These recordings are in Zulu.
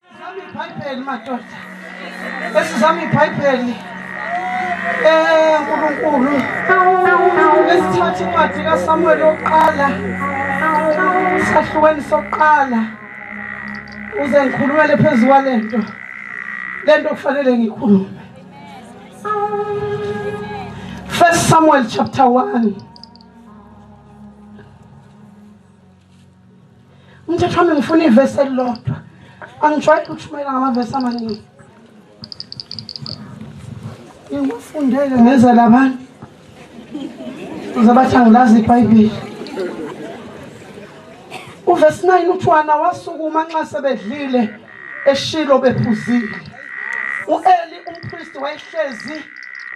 Sizama ibhayibheli madoda. Esizama ibhayibheli. Eh uNkulunkulu. Esithatha incwadi kaSamuel yokuqala. Sahlukweni sokuqala. Uze ngikhulumele phezu kwalento. Lento kufanele ngikhulume. First Samuel chapter 1 umthetho wami ngifuna ivesi elilodwa angijwayele ukushumayela ngamavesi amaningi ngikufundele ngeza labantu uzabathi angilazi ibhayibheli uvesi 9 uthi wana wasukuma nxa sebedlile eshilo bephuzile uEli umpristi wayehlezi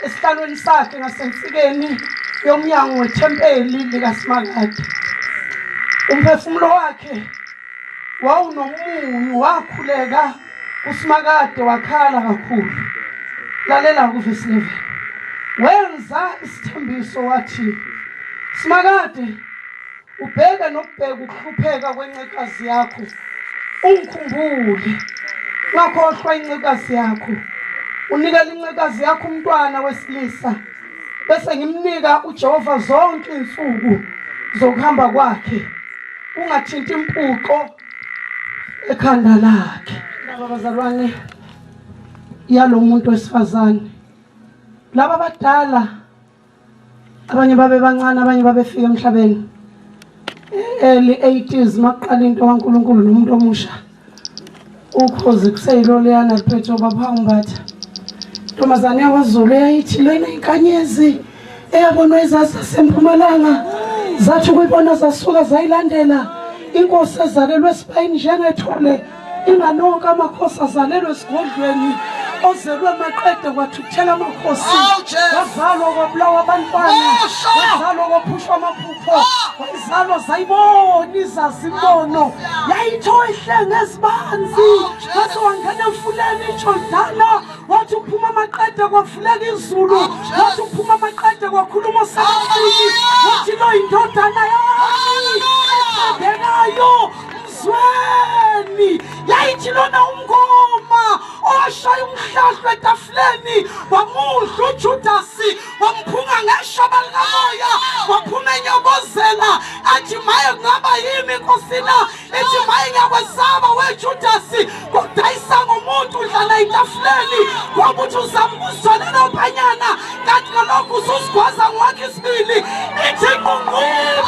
esihlalweni sakhe ngasensikeni yomnyango wethempeli likaSimakade umphefumulo wakhe wawunomunyu wakhuleka uSimakade wakhala kakhulu lalela kuvesi 11 wenza isithembiso wathi Simakade Ubheka nokubheka ukuhlupheka kwencekazi yakho. Ungikhumbule. Ungakhohlwa incekazi yakho. Unikela incekazi yakho umntwana wesilisa. Bese ngimnika uJehova zonke insuku zokuhamba kwakhe. Ungathinti impuqo ekhanda lakhe. Laba bazalwane yalomuntu wesifazane. Laba badala abanye babebancane abanye babefika emhlabeni early 80s makuqala into kaNkuluNkulu nomuntu omusha ukhozi kuseyiloleyana liphethe ubaba umbatha ntombazane yakwaZulu eyayithi lena inkanyezi eyabonwa izazi sempumalanga zathi ukuyibona zasuka zayilandela inkosi ezalelwe esibayini njengethole inganoka amakhosi azalelwe esigodlweni ozelwe maqede kwathuthela amakhosi wazalwa kwabulawa abantwana wazalwa kwaphushwa amaphupho wayizalwa zayibona izazimbono yayitho ihlenge ezibanzi wathi wangena emfuleni ijordana wathi uphuma amaqede kwavuleka izulu wathi uphuma amaqede kwakhuluma osebatini wathi lo yindodana yami ethandekayo Zweni yayithi lona umngoma owashaya umhlahlo etafuleni wamudla uJudasi wamphunga ngeshaba likamoya waphuma enyobozela athi maye kungaba yimi nkosina ethi maye ngiyakwesaba wejudasi Kodayisa ngomuntu udlala itafuleni ngokuthi uzama ukuzitholela uphanyana kanti ngalokhu ususigwaza ngwakhe isibili ithi nqunqulu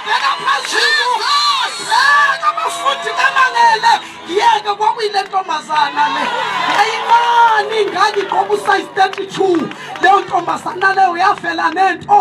bheka phezulu bheka abafundi bemangele yeke kwakuyile ntombazana le ayimani ngangigqoka usayizi 32 leyo ntombazana leyo yavela nento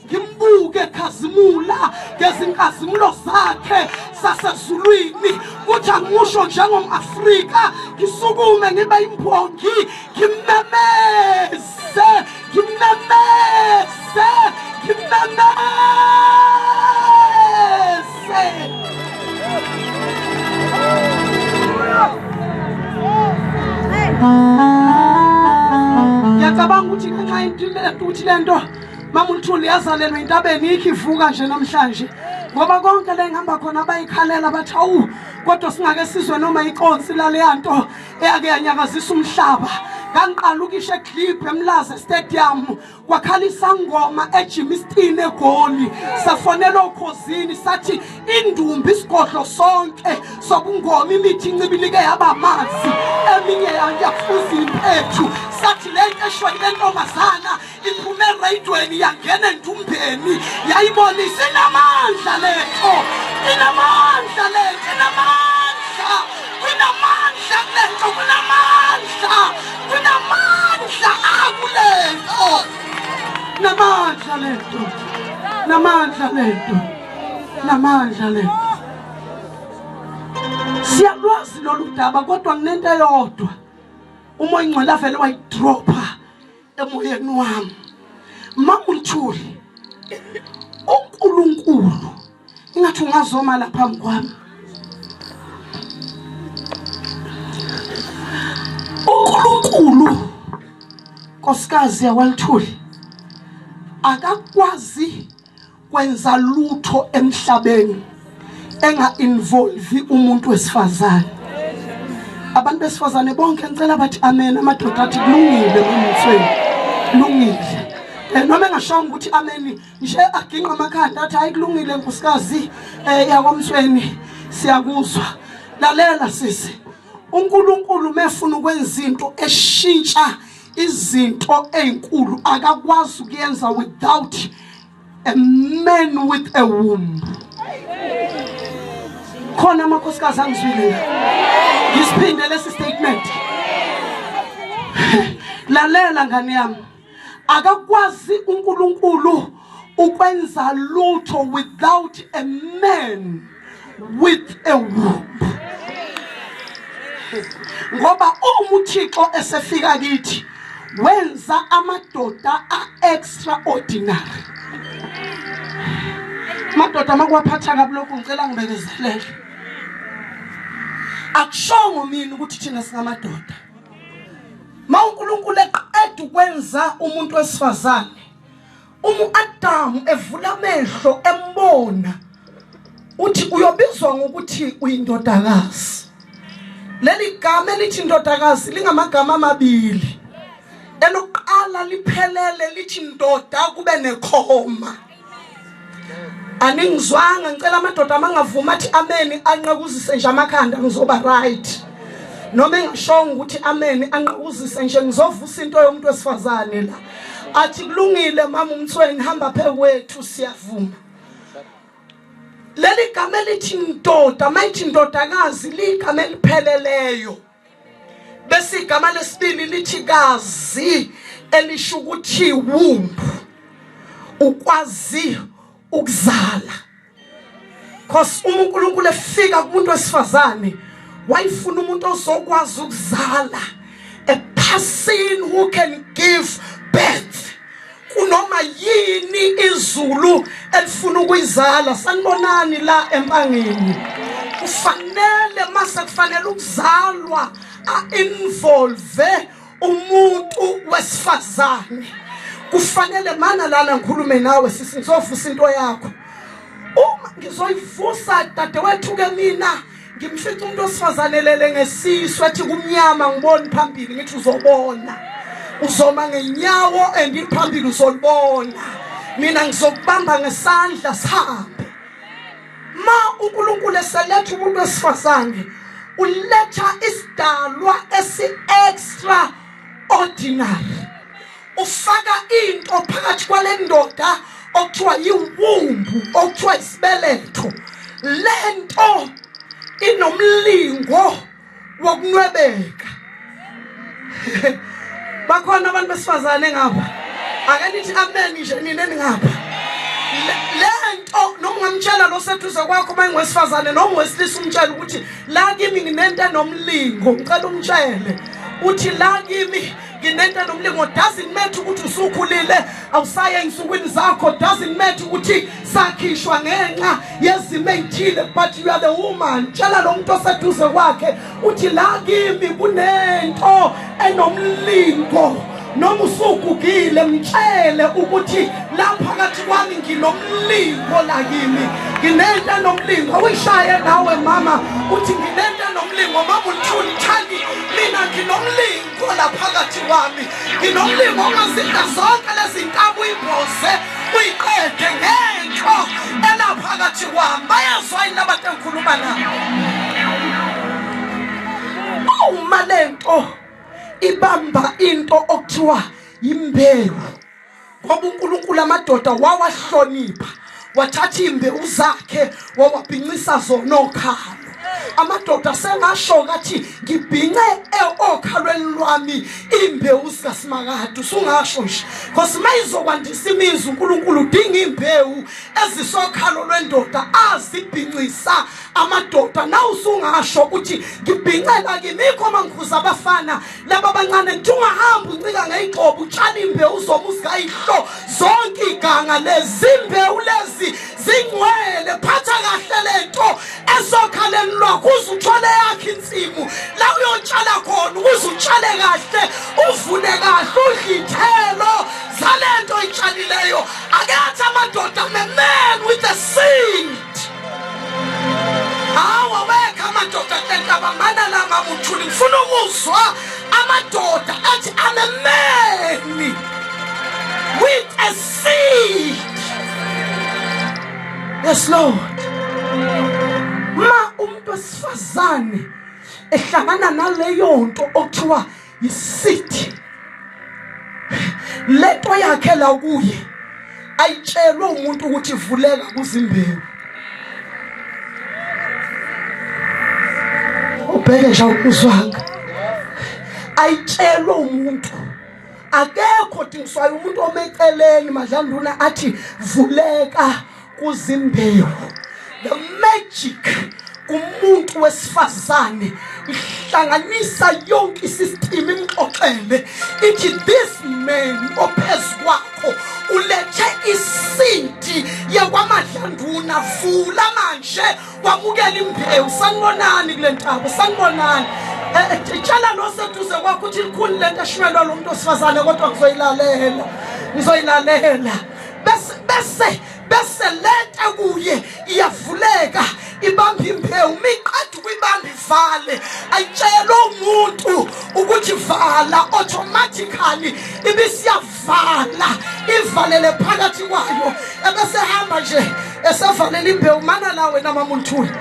ngimbuke khazimula ngezinkazimulo zakhe sasezulwini kuthi angimusho njengom-afrika ngisukume ngibe imbongi ngimemeze ngimemeze ngimemeze ngiyacabanga ukuthi ngenxa yento ukuthi le nto Mama uNtuli yazalelwa intabeni ikhi ivuka nje namhlanje ngoba konke la engihamba khona bayikhalela bathi awu kodwa singake sizwe noma ikonsi laleya nto eyake yanyakazisa umhlaba ngangiqala ukisho eclib emlaze stadium kwakhala isangoma ejimistini egoli safonela okhozini sathi indumbi isigodlo sonke sobungoma imithi incibilike yaba amanzi eminye yafuza impethu sathi le nto eshwele lentombazana iphume erayidweni yangena endumbeni yayibona isinamandla letho inamandla letho inamandla kunamandla kulento kunamandla kunamandla akulento namandla lento namandla lento namandla lento siyalwazi lolu daba kodwa nginento eyodwa uma ingcwele avele wayidropha emoyeni wami makunthuli uNkulunkulu ingathi ungazoma la phambi kwami uNkulunkulu nkosikazi yakwalithuli akakwazi kwenza lutho emhlabeni enga involve umuntu wesifazane abantu besifazane bonke ngicela bathi amen amadoda athi kulungile kumthweni kulungile eh, noma engashonga ukuthi amen nje aginqa amakhanda athi hayi kulungile nkosikazi eh, yakwamthweni siyakuzwa lalela sisi uNkulunkulu mefuna ukwenza into eshintsha izinto ezinkulu akakwazi ukuyenza without a man with a womb khona amakhosikazi angizwile ngisiphinde lesi statement lalela ngane yami akakwazi uNkulunkulu ukwenza lutho without a man with a womb ngoba uma uthixo esefika kithi wenza amadoda a-extraordinary madoda makuwaphatha kabi lokhu ngicela ngibekezelele akushongo mina ukuthi thina singamadoda ma unkulunkulu eqeda ukwenza umuntu wesifazane uma uAdamu evula amehlo embona uthi uyobizwa ngokuthi uyindodakazi leli gama elithi indodakazi lingamagama amabili elokuqala liphelele lithi ndoda kube nekhoma aningizwanga ngicela amadoda amangavuma athi ameni anqakuzise nje amakhanda ngizoba right noma engishongo ukuthi ameni anqakuzise nje ngizovusa into yomuntu wesifazane la athi kulungile mama umthweni hamba phekwethu siyavuma leli gama elithi ndoda mayithi ndodakazi ligama elipheleleyo bese igama lesibili lithi kazi elisho ukuthi wumbu ukwazi ukuzala cause uma uNkulunkulu efika kumuntu wesifazane wayifuna umuntu ozokwazi ukuzala a person who can give birth kunoma yini izulu elifuna ukuyizala sanibonani la empangeni kufanele mase kufanele ukuzalwa a involve umuntu wesifazane kufanele mana lana ngikhulume nawe sisi ngizovusa into yakho uma ngizoyivusa dadewethu ke mina ngimfica umuntu osifazane lele ngesisu athi kumnyama ngiboni phambili ngithi uzobona uzoma ngenyawo endiphambili uzolibona mina ngizokubamba ngesandla sihambe ma uNkulunkulu eseletha umuntu wesifazane uletha isidalwa esi extra ordinary ufaka into phakathi kwalendoda okuthiwa yiwumbu okuthiwa isibeletho lento inomlingo wokunwebeka bakhona abantu besifazane ngapha ake nithi amen nje nina ningapha lento noma ungamtshela lo sethuze kwakho uma ingowesifazane noma ungowesilisa umtshela ukuthi la kimi nginento enomlingo ngicela umtshele uthi la kimi nginento nomlingo doesn't matter ukuthi usukhulile awusaye ey'nsukwini zakho doesn't matter ukuthi sakhishwa ngenxa yezimo ey'thile but you are the woman tshela lo muntu oseduze kwakhe uthi la kimi kunento enomlingo noma usugugile mtshele ukuthi la phakathi kwami nginomlingo la kimi nginento enomlingo uyishaye nawe mama uthi nginento enomlingo mama ulithuli thandi mina nginomlingo Khola phakathi kwami nginomlimo ongazinda zonke lezi nkabi uyibhoze uyiqede ngenhlo elaphakathi kwami bayezwa yini abantu engikhuluma nabo uma lento ibamba into okuthiwa imbewu ngoba uNkulunkulu amadoda wawahlonipha wathatha imbewu zakhe wawabhincisa zona okhalo amadoda sengasho kathi ngibhince e- okhalweni lwami imbewu sikasimakade usungasho nje because mayizokwandisa imizi uNkulunkulu udinga imbewu ezisokhalo lwendoda azibhincisa amadoda na usungasho ukuthi ngibhincela kimi khoma ngikhuza abafana laba bancane kuthiwa ungahamba uncika ngeyigxobo utshani imbewu uzoma uzikayihlo zonke iganga lezimbewu lezi zingcwele phatha kahle le nto esokhaleni lwakho uze uthole yakhe insimu la uyotshala khona ukuze utshale kahle uvune kahle udle ithelo zale nto oyitshalileyo akethi amadoda memel with the sing Hawa wekha amadoda enhlaba mana la mabuthuli ngifuna ukuzwa amadoda athi I'm a man with a seed. Yes Lord. Ma umuntu wesifazane ehlangana naleyo nto okuthiwa yisithi lento yakhe la kuye ayitshelwe umuntu ukuthi vuleka kuzimbewu ubheke nje awukuzwanga ayitshelwe umuntu akekho dingiswayo umuntu omeceleni madlanduna athi vuleka kuzimbewu the magic kumuntu wesifazane ihlanganisa yonke isisitimu imxoxele ithi this man ophezu kwakho ulethe isinti yakwamadlanduna vula manje wamukela imbewu sanibonani kule ntaba sanibonani eh, eh, tshela noseduze kwakho ukuthi likhulu le nto eshumelwa lo muntu osifazane kodwa ngizoyilalela ngizoyilalela bese bese bese leta kuye iyavuleka ibamba imbewu miqeda ukuyibamba ivale ayitshelwe umuntu ukuthi vala automatically ibisiyavala ivalele phakathi kwayo ebesehamba nje esevalela imbewu mana la wena mamunthule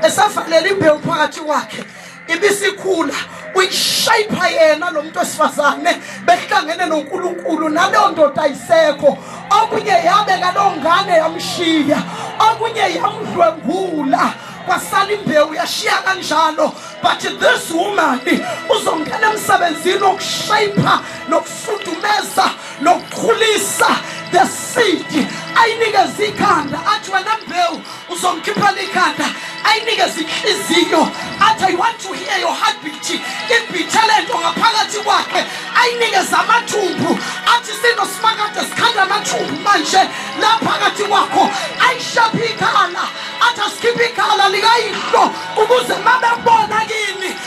esevalela imbewu phakathi kwakhe ibisikhula uyishayipha yena lo muntu wesifazane behlangene noNkulunkulu naleyo ndoda ayisekho okunye yabe ngalowo ngane yamshiya okunye yamdlwengula kwasala imbewu yashiya kanjalo but this woman uzongena emsebenzini wokushayipha nokufudumeza nokukhulisa the seed ayinikeza ikhanda athi wena mbewu uzomkhiphela ikhanda ayinikeze inhliziyo athi i want to hear your heartbeat ibhithe lento ngaphakathi kwakhe ayinikeze amathumbu athi sino simakade sikhanda amathumbu manje la phakathi kwakho ayishaphe ikhala athi asikhiphe ikhala likayihlo ukuze mabebona kini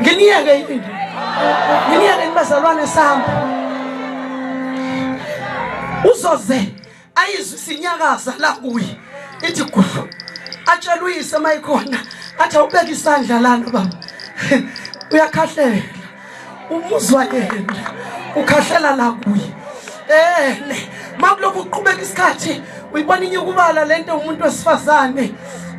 nginiyeke yini nginiyeke yini bazalwane sami uzoze ayizwe sinyakaza la kuye ithi gudlu atshela uyise mayikhona athi awubeke isandla lana baba uyakhahlela umuzwa yena ukhahlela la kuye ene eh, makulokhu uqhubeka isikhathi uyibona inyukubala lento umuntu wesifazane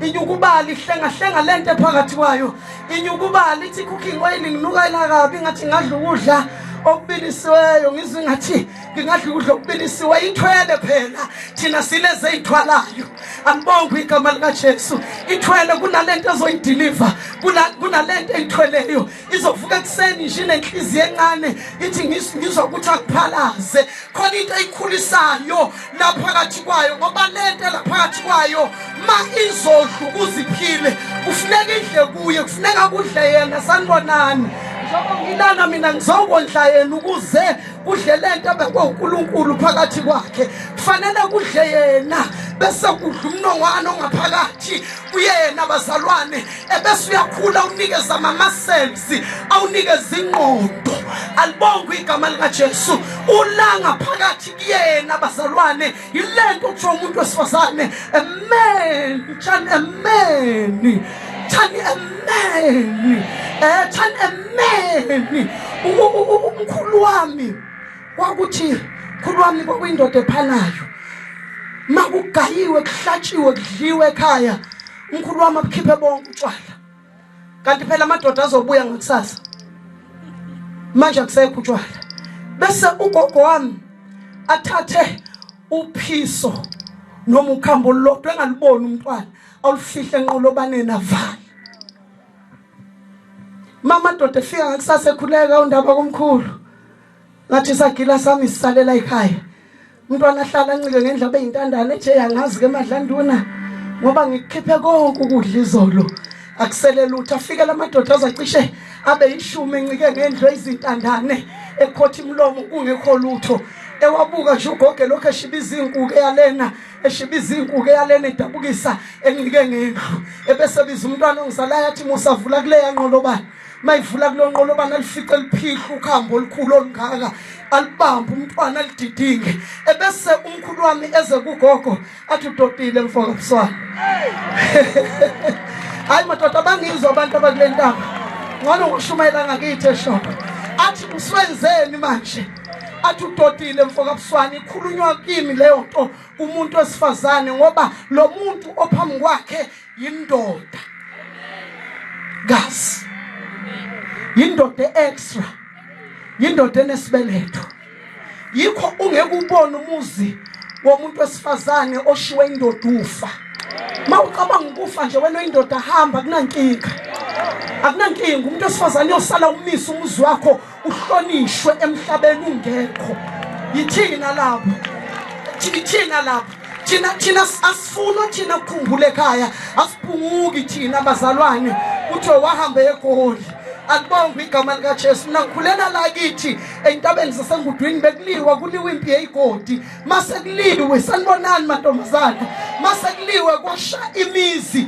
inyukubala ihlengahlenga lento phakathi kwayo inyukubala ithi cooking oil nginuka ila kabi ngathi ngadla ukudla okubilisiweyo ngizwe ngathi ngingadla ukudla okubilisiwe ithwele phela thina sileze ithwalayo angibonge igama likaJesu ithwele kunalento ezoyideliver kunalento eyithweleyo izovuka ekuseni nje nenhliziyo encane ithi ngizwa ukuthi akuphalaze khona into eyikhulisayo laphakathi kwayo ngoba lento laphakathi kwayo ma izodla ukuziphile kufuneka idle kuye kufuneka kudle yena sanibonani njengoba ngilana mina ngizokondla yena ukuze kudle le nto abekwe unkulunkulu phakathi kwakhe kufanele kudle yena bese kudla umnongwane ongaphakathi kuyena bazalwane ebese uyakhula unikeza amamaselsi awunikeza ingqondo alibongwe igama likajesu ulanga phakathi kuyena bazalwane yile nto kuthiwa umuntu wesifazane amen tshani ameni tshani ameni um tshani ameni umkhulu wami kwakuthi khulu wami kwakuyindoda ephanayo makugayiwe kuhlatshiwe kudliwe ekhaya umkhulu wami abukhiphe bonke utshwala kanti phela amadoda azobuya ngakusasa manje akusekho utshwala bese ugogo wami athathe uphiso noma ukhambo lodwa engaliboni umntwana awulifihle enqolobaneni avale mama doda efika ngakusasa ekhuleka undaba komkhulu ngathi isagila sami sisalela ekhaya umntwana ahlala ancike ngendlela beyintandane nje yangazi ke madlanduna ngoba ngikukhiphe konke ukudla izolo akusele lutho afike lamadoda azacishe abe yishumi encike ngendlo izintandane ekhothi imlomo kungekho lutho ewabuka nje ugoge lokho eshiba izinkuke yalena eshiba izinkuke yalena edabukisa encike ngendlu ebese biza umntwana ongizalayo athi musavula kuleya nqolobani mayivula kulonqolobana alifice liphihla ukhambo olukhulu olungaka alibambe umntwana alididinge ebese umkhulu wami eze kugogo athi udodile mfoka buswana hayi madoda bangizwa abantu abakule ntaba ngcono ngoshumayela ngakithi eshopo athi uswenzeni manje athi udodile mfoka buswana ikhulunywa kimi leyo nto kumuntu wesifazane ngoba lo muntu ophambi kwakhe yindoda kazi yindoda extra yindoda enesibeletho yikho ungeke ubone umuzi womuntu wesifazane oshiwe indoda ufa mawucabanga ukufa nje wena indoda hamba kunankinga akunankinga umuntu wesifazane uyosala umisa umuzi wakho uhlonishwe emhlabeni ungekho yithini nalapho thina lapho thina thina asifuna thina ukukhumbula ekhaya asiphunguki thina bazalwane kuthiwe wahamba egoli alibongwe igama likaJesu nakhulela la kithi entabeni zasengudwini bekuliwa kuliwa impi yeyigodi mase kuliwe sanibonani mantombazana mase kuliwe kwasha imizi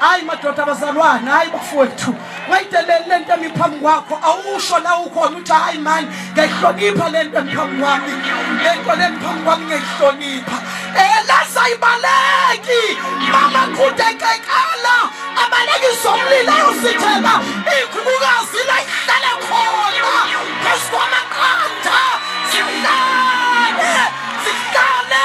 hayi madoda abazalwane hayi bafowethu wayideleli le nto emi phambi kwakho awusho la ukhona uthi hayi mani ngiyayihlonipha le nto emi phambi kwami le nto le phambi kwami ngiyayihlonipha elasayibaleki mama khudekekala abalekisa umlilo ayosithela ikhulukazi la ihlale khona phezu kwamaqanda sihlale sihlale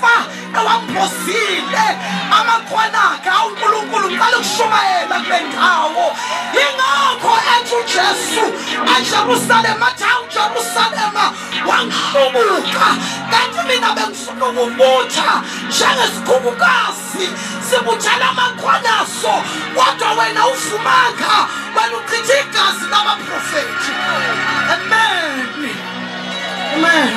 fa ewamphosile amakhona akhe awu nkulunkulu ngicela ukushumayela kule ndawo yingakho ethi ujesu ejerusalema athi awu jerusalema wangihlubuka kanti mina bengifuna ukubutha njengesikhukhukazi sibuthela amakhona aso kodwa wena ufumanga wena uchitha igazi labaprofethi amen amen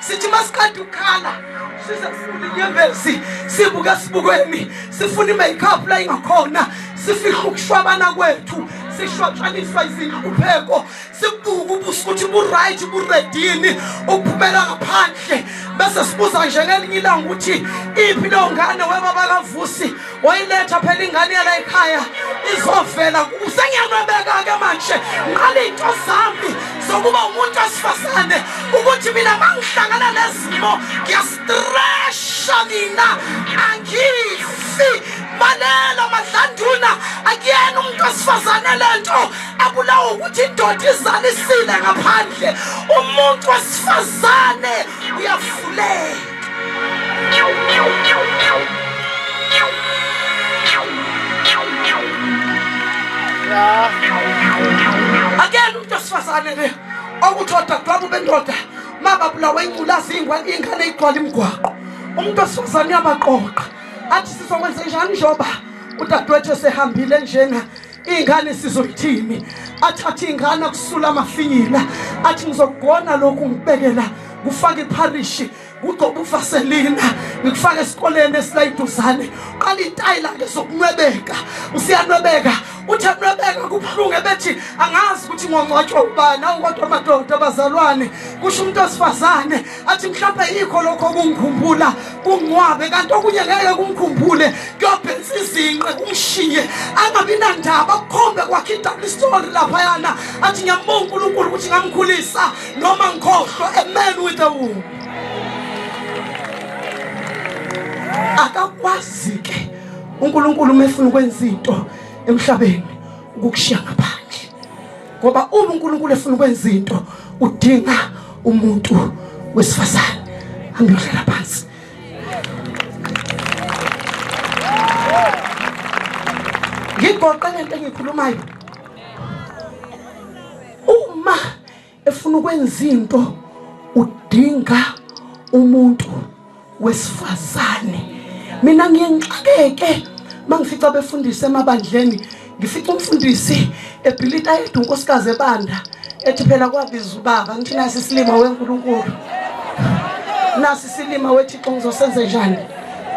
sithi masiqeda ukukhala sisefuna inyembezi sibuke esibukweni sifuna i-makeup la ingakhona sifihle ukushwabana kwethu sishwatshaniswa izinhlupheko sibuke ubuso ukuthi bu-right buredini ukuphumela ngaphandle bese sibuza njengelinye ilanga ukuthi iphi leyo ngane webaba kavusi wayiletha phela ingane yala ekhaya izovela sengiyanwebeka-ke manje nqala iy'nto zami zokuba umuntu wesifazane ukuthi mina ma ngihlangana nezimo ngiyastresha mina angifi balelo madlanduna akuyena umuntu wesifazane le nto abulawa ukuthi indoda izalisile ngaphandle umuntu wesifazane uyafuleka akela umuntu osifazane le okuthi odadewabo bendoda mababulawa inculazi ingane igcwala imigwaqo umuntu osifazane uyabaqoqa athi sizokwenze njani njengoba udadewethu esehambile njena iy'ngane sizoyithini athi athi iy'ngane akusula amafinyila athi ngizokugona lokhu ngibekela kufake ipharishi kugcoba uvaselina ngikufake esikoleni esilayiduzane qala intayi lakhe zokunwebeka usiyanwebeka uthi anwebeka kubuhlungu ebethi angazi ukuthi ngongcwatshwa ubani awu kodwa amadoda abazalwane kusho umuntu wesifazane athi mhlawumbe yikho lokho okungikhumbula kungcwabe kanti okunye ngeke kungikhumbule kuyobhensa izinqe kungishiye angabi nandaba kukhombe kwakhe idouble story laphayana athi ngiyambonga unkulunkulu ukuthi ngamkhulisa noma ngikhohlwa a man with a womb akakwazi ke unkulunkulu uma efuna ukwenza into emhlabeni ukukushiya ngapha ngoba uma uNkulunkulu efuna ukwenza into udinga umuntu wesifazane angiyodlala phansi ngigoqe lento engikhulumayo uma efuna ukwenza into udinga umuntu wesifazane mina ngiyenxakeke mangifica befundisa emabandleni ngifica umfundisi ebhilita yedwa unkosikazi ebanda ethi phela kwabiza ubaba ngithi nasi isilima wenkulunkulu nasi isilima wethixo ngizosenze njani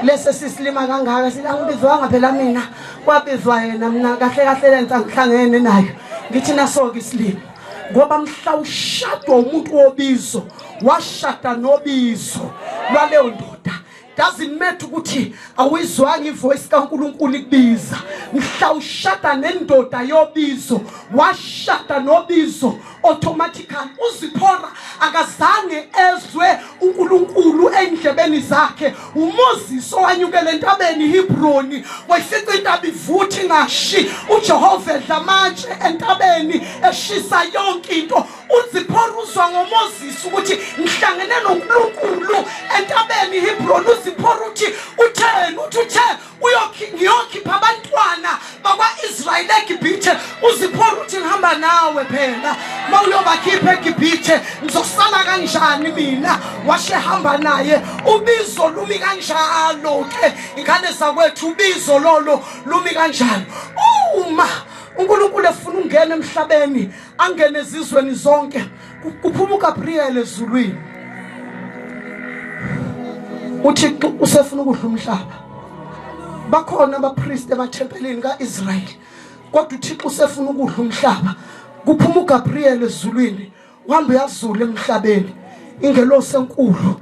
lesi sisilima kangaka sithi angibizwanga phela mina kwabizwa yena mina kahle kahle lenza ngihlangene nayo ngithi naso-ke isilima ngoba mhla ushadwa umuntu wobizo washada nobizo lwaleyo ndoda doesn't matter ukuthi awuyizwanga ivoice kaNkuluNkulu ikubiza mhla ushada nendoda yobizo washada nobizo automatically uziphora akazange ezwe uNkulunkulu ey'ndlebeni zakhe uMoses owanyukela entabeni iHebroni wayifica intaba ivuthi ngashi uJehova edla amatshe entabeni eshisa yonke into uZiphora uzwa ngoMoses ukuthi ngihlangene noNkulunkulu entabeni iHebroni uZiphora uthi utheni uthi utheni ngiyokhipha abantwana bakwa-israyeli egibhithe uziphora ukuthi ngihamba nawe phela ma uyobakhipha egibhithe ngizosala kanjani mina washe hamba naye ubizo lumi kanjalo-ke ingane zakwethu ubizo lolo lumi kanjalo uma unkulunkulu efuna ungena emhlabeni angene ezizweni zonke Kuphuma uGabriel ezulwini. UThixo usefuna ukudla umhlaba. Bakhona abapriest emathempelini kaIsrael. Kodwa uThixo usefuna ukudla umhlaba. Kuphuma uGabriel ezulwini, uhamba uyazula emhlabeni. Ingelosi enkulu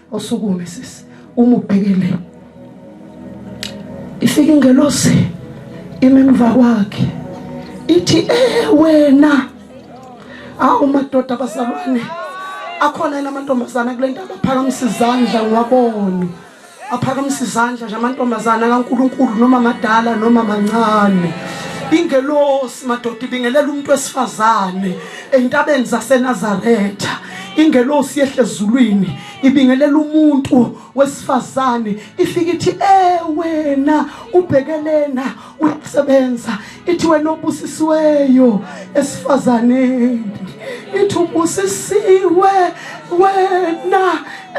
Usukume sisi umubhekele. Ifike ingelosi imemva kwakhe. Ithi eh wena. Awu madoda basalwane. Akhona yena amantombazana kule ndaba phakamisa izandla ngiwabone. Aphakamisa izandla nje amantombazana kaNkuluNkulu noma madala noma mancane. Ingelosi madoda ibingelela umuntu wesifazane. Entabeni zaseNazaretha ingelosi yehle ezulwini ibingelela umuntu wesifazane ifika ithi eh wena ubhekelena uyasebenza ithi wena obusisiweyo esifazaneni ithi ubusisiwe wena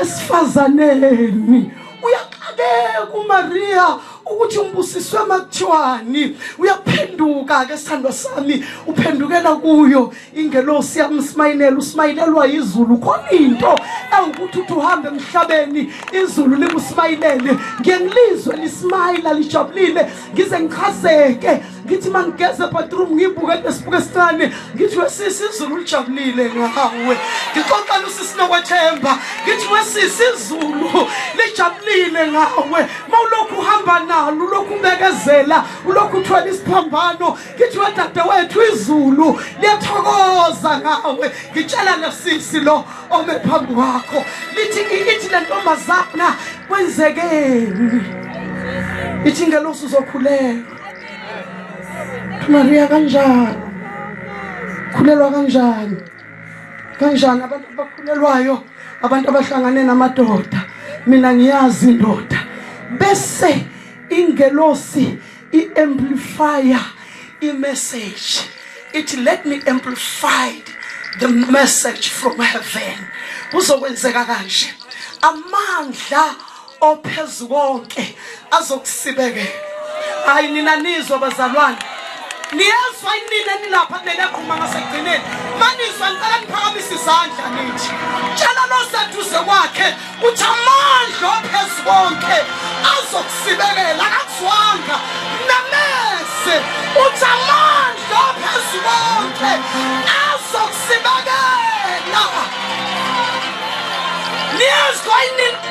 esifazaneni uyaxakeka uMaria ukuthi ngibusiswe makuthiwani uyaphenduka ke sithandwa sami uphendukela kuyo ingelosi yamsmayinela usmayinelwa izulu khona into ewukuthi uthi uhambe emhlabeni izulu likusmayinele ngiye ngilizwe lismayila lijabulile ngize ngichazeke ngithi mangigeza ebathroom ngibuke lesibuke esincane ngithi wesisi izulu lijabulile ngawe ngixoxela usisi nokwethemba ngithi wesisi izulu lijabulile ngawe ma ulokhu uhamba nalo ulokhu ubekezela ulokhu uthwele isiphambano ngithi wedade wethu izulu liyathokoza ngawe ngitshela lesisi lo ome phambi kwakho lithi ithi le ntombazana kwenzekeni ithi ngelosi uzokhuleka Maria kanjani khulelwa kanjani kanjani abantu abakhulelwayo abantu abahlangane namadoda mina ngiyazi indoda bese ingelosi iamplifier imessage ithi let me amplify the message from heaven kuzokwenzeka kanje amandla ophezu konke azokusibekela hayi nina nizwa bazalwane niyezwa inina nilapha kumele akhuluma ngasekugcineni manizwa ngicela niphakamisa izandla nithi tshela loseduze kwakhe ukuthi amandla ophezu konke azokusibekela akakuzwanga namese uthi amandla ophezu konke azokusibekela niyezwa inina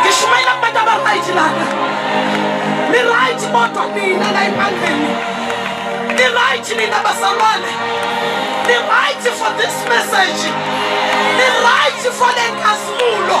ngishumayela kubantu abaright lana niright kodwa nina la ebandleni niright nina bazalwane niright for this message niright for le nkazimulo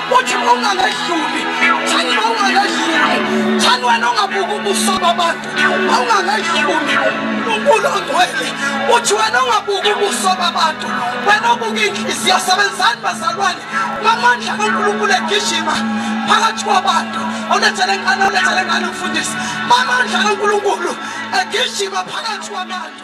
uthi ungakadluli thani ungakadluli thani wena ungabuka ubuso babantu ungakadluli unkulu ongcwele uthi wena ungabuka ubuso babantu wena obuka inhliziyo sebenzani bazalwane ngamandla kankulunkulu egijima phakathi kwabantu olethele ngane olethele ngane umfundisi mamandla kankulunkulu egijima phakathi kwabantu